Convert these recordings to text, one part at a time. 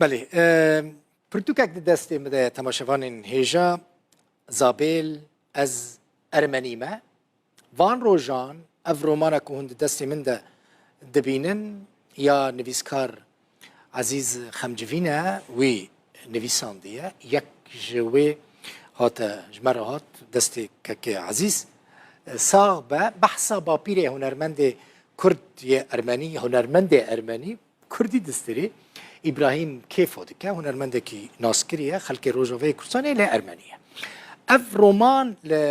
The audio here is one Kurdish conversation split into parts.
Belê pirtûkek di destê min de temaşevanên hêja Zabêl ez ermenî me. Van rojan ev romana ku hûn di destê min de dibînin ya nivîskar Ezîz Xemcivî ne wî nivîsandiye. Yek ji wê hate ji me re hat destê kekê Ezîz. Sax be behsa bapîrê hunermendê Kurd yê ermenî, hunermendê ermenî Kurdî Distîrî, Îbrahîm Kêfo dike, hunermendekî naskirî ye, xelkê Rojavayê Kurdistanê ye lê Ermenî ye. Ev roman li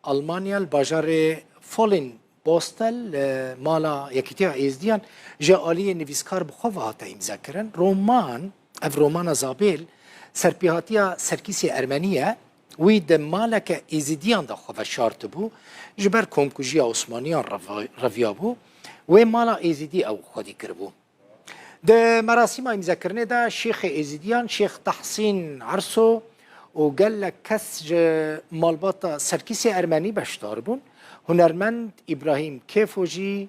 Almanya li bajarê Folin Bostel li mala Yekîtiya Êzdiyan ji aliyê nivîskar bi xwe ve hate îmzekirin. Roman, ev romana Zabêl, serpêhatiya Serkîsê Ermenî ye Wî di maleke Êzîdiyan de xwe veşartibû, ji ber komkujiya Osmaniyan reviyabû, wê mala Êzîdî ew xwedî kiribû. Di merasîma îmzekirinê de şêxê Êzîdiyan Şêx Tahsîn Erso û gelek kes ji malbata Serkîsê Ermenî beşdar bûn. Hunermend Îbrahîm Kêfo jî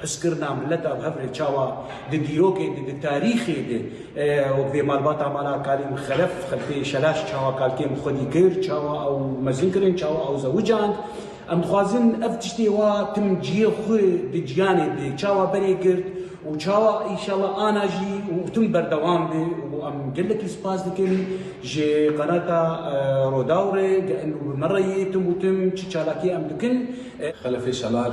Piskirina mileta bi hevrê çawa di dîrokê de, di tarîxê de wek vê malbata mala kalê min xelef, xelfê şelaş çawa kalkê min xwedî kir, çawa ew mezin kirin, çawa ew zewicand. Em dixwazin ev tiştê wa tim ciyê xwe di ciyanê de çawa berê girt û çawa înşallah ana jî û tim berdewam be û em gelekî spas dikin ji qenata Rodaw re, bi me re ye tim û tim çi çalakî em dikin. Xelefê şelar.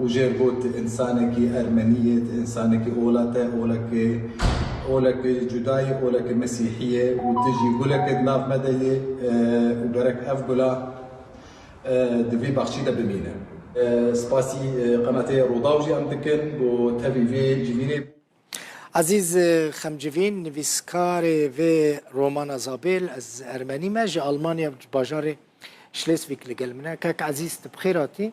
û jê got însanekî ermenî ye, ti însanekî ola te, oleke oleke cuda ye, oleke mesîhî ye û ti jî guleke di nav me de yê û gerek ev gula di vî baxçî de bimîne. Spasî qenatê Rûdaw jî em dikin bo tevî vê civînê. Ezîz Xemcivîn, nivîskarê vê romana Zabêl, ez ermenî me, ji Almanya ji bajarê Şlêsvîg li gel min e. Kak Ezîz, tu bi xêr hatî.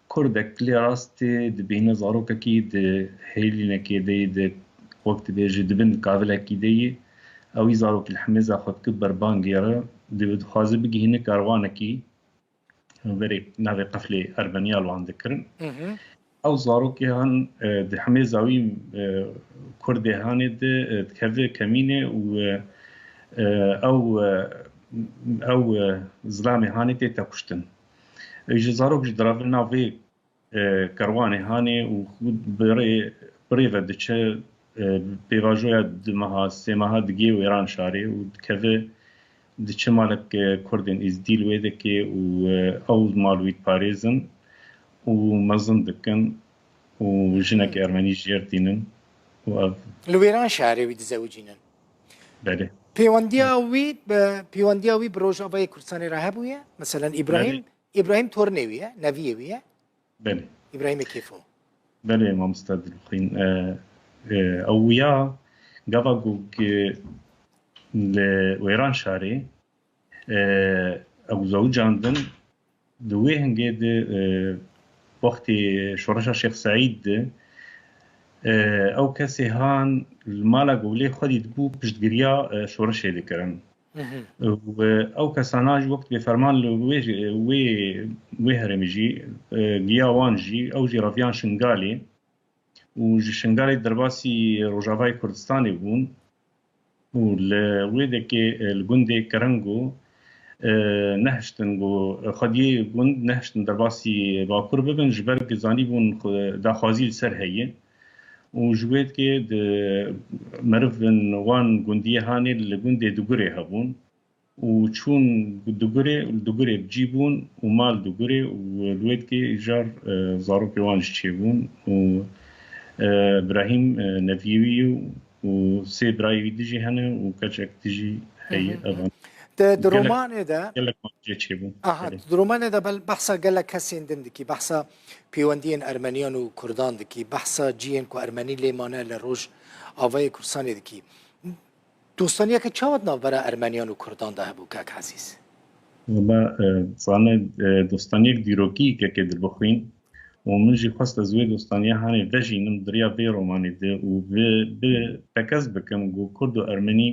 Kurdek kilê rastê dibîne zarokekî di hêlînekê de yî de wek dibêje di bin kavilekî de yî ew yî zarokî li hemêza xwe dike ber bangê re dê dixwaze bigihîne karwanekî verê navê qeflê Ermeniyal wan dikirin ew zarokê han di hemêza wî Kurdê hanê de dikeve kemînê û ew ew zilamê hanê tê tekuştin. Ji zarok ji diravin navê kerwanê hanê û xwîd bi rê bi rê ve diçe pêvajoya du meha sê meha digê wêran şarê û dikeve diçe malek kurdên îzdîl wê dikê û ew mal wî diparêzin û mezin dikin û jinekî ermenî jêr tînin û ev li wêran şarê wî dizewicînin. Belê. Pêwendiya wî bi pêwendiya wî bi Rojavayê Kurdistanê re hebûye? Meselen Îbrahîm Îbrahîm torinê wî ye, neviyê wî ye? Belê. Îbrahîmê Kêfo. Belê mamosta Dilxwîn. Ew wîya gava ku li Wêranşarê Ew zewicandin di wê hingê de wextê şoreşa Şêx Seîd de ew kesê han li mala gowlê xwedî dibû piştgiriya şoreşê dikirin û ew kesana jî wek dibê ferman li wê wê herêmê jî giya wan jî ew jî reviyan Şingalê û ji Şingalê derbasî Rojavayê Kurdistanê bûn û li wê dekê li gundê kirin ku nehiştin ku xwediyê gund nehiştin derbasî Bakur bibin ji ber ku zanîbûn ku daxwazî li ser heye û ji wê dekê di merivên wan gundiyê hanê li gundê Dugurê hebûn. û çûn Dugurê û li Dugurê bi cî bûn û ma li Dugurê û li Wêdgê îcar zarokê wan jî çêbûn û Brahîm neviyê wî ye û sê birayê wî di jî hene û keçek di jî heye evan Di di romanê de gelek wan jê çêbûn. Aha di romanê de bel behsa gelek kesên din dikî behsa pêwendiyên ermeniyan û kurdan dikî behsa ciyên ku ermenî lê mane li roj avayê kurdistanê dikî. Dostaniyeke çawa di navbera Ermeniyan û Kurdan de hebû kak Ezîz? Wala zane dostaniyek dîrokî kekê di bixwîn û min jî xwest ez wê dostaniya hanê vejînim di riya vê romanê de û bi bi tekez bikim ku Kurd û Ermenî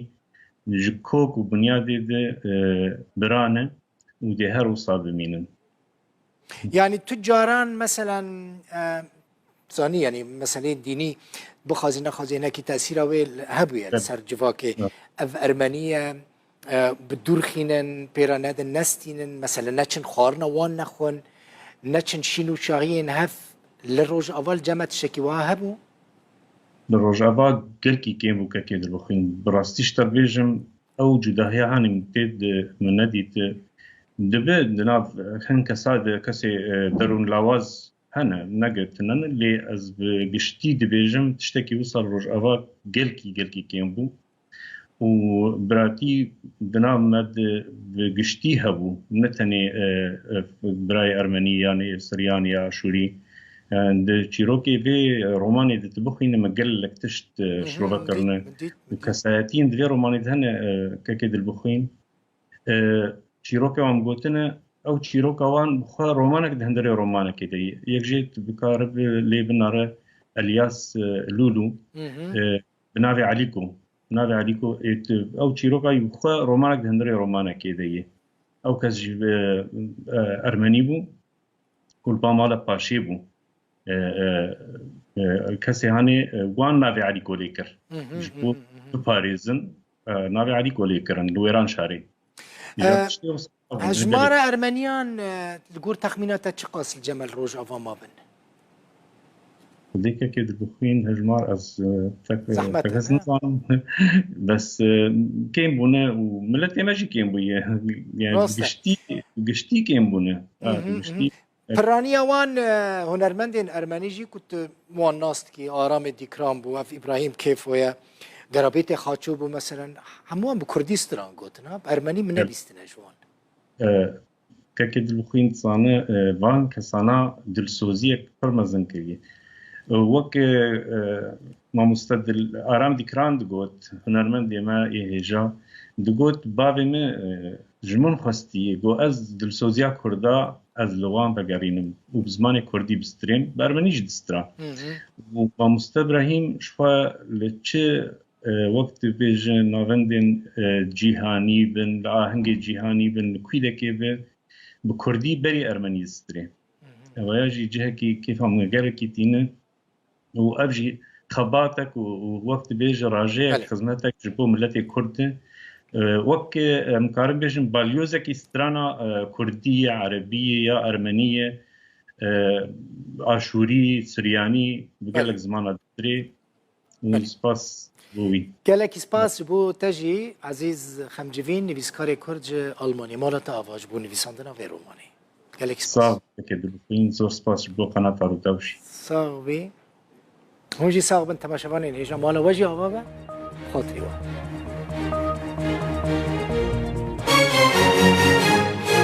ji kok û bunyadê de bi ra ne û dê her wisa bimînin. Yani tu caran mesela zanî yani meseleyên dînî bixwazî nexwazî hinekî tesîra wê hebûye li ser civakê ev ermeniye bi dûr xînin pêra nedin nestînin mesela neçin xwarina wan nexwin neçin şîn û şahiyên hev li rojava li ceme tiştekî wiha hebû Li rojava gelkî kêm û kekê dibixwîn bi rastî ji te bêjim Ew cudahiya hanî min tê di min nedît. Dibe di nav hin kesa de kesê derûn lawaz hene ne girtine ne lê ez bi giştî dibêjim tiştekî wisal rojava gelkî gelkî kêm bû û biratî di nav me de bi giştî hebû ne tenê birayê ermenî yanê siryanî ya aşûrî Di çîrokê vê romanê de tu bixwînî me gelek tişt şirove kirine û kesayetiyên di vê romanê de hene kekê dilbixwîn. Çîroka wan gotine ew çîroka wan bi xwe romanek di hindirê romanekê de ye. Yek jê tu bikare bi lê binare Elyas Lûlû bi navê Elîko. Bi navê Elîko ê tu ew çîroka yî bi xwe romanek di hindirê romanekê de ye. Ew kes jî ermenî bû. Kulpa mala paşê bû. Kesê hanê wan navê Elî Golê kir. Ji bo biparêzin navê Elî Golê kirin li wêran şarê. Hejmara Ermeniyan li gor texmîna te çiqasî Cemel Rojava mabin? Dêkekê dibixwîn hejmar ez pek Zehmet pek e, ez ne? nizanim. Bes e, kêm bûne û miletê me jî kêm bûye. Yani Rast e. giştî giştî kêm bûne. Hı hı, hı Giştî hı. Pirraniya wan e, hunermendên ermenî jî ku tu wan nas dikî Aramê Dîkran bû, ev Îbrahîm Kêfo ye, Gerabêtê Xaço bû meselen hemû wan bi kurdî stran gotin ha, bi ermenî min nebîstine ji wan. e, Keke Dilbixwîn dizane van kesana dilsoziyek pir mezin kiriye. Wek mamoste Dil Aram Dîkran digot, hunermendê me yê hêja, digot bavê min ji min xwestiye got ez dilsoziya kurda ez li wan vegerînim û bi zimanê kurdî bistirêm, ber minî jî distira. Û mamoste Brahîm jixwe li çi Wek tu bê ji navendên cîhanî bin, li ahengê cîhanî bin, li kwîlekê be, bi kurdî berî ermenî zistrê. Ewaya jî cihekî kêfa min gelekî tîne û ev jî xebatek û wek tu bê ji rajeyek xizmetek ji bo miletê kurd e. Wek em dikarin bêjin balyozekî strana kurdî ye, erebî ye ya ermenî ye, aşûrî, suryanî bi gelek zimana zistrê. û spas bo wî. Gelekî spas ji bo te jî Ezîz Xemcivîn, nivîskarê Kurd ji Almanyê. Mala te ava ji bo nivîsandina vê romanê. Gelekî spas. Sax be keke dilxwîn. Zor spas ji bo qenata Rûdaw jî. Sax bî. Hûn jî sax bin temaşevanên hêja. Mala we jî ava be. Bi xatirî wan.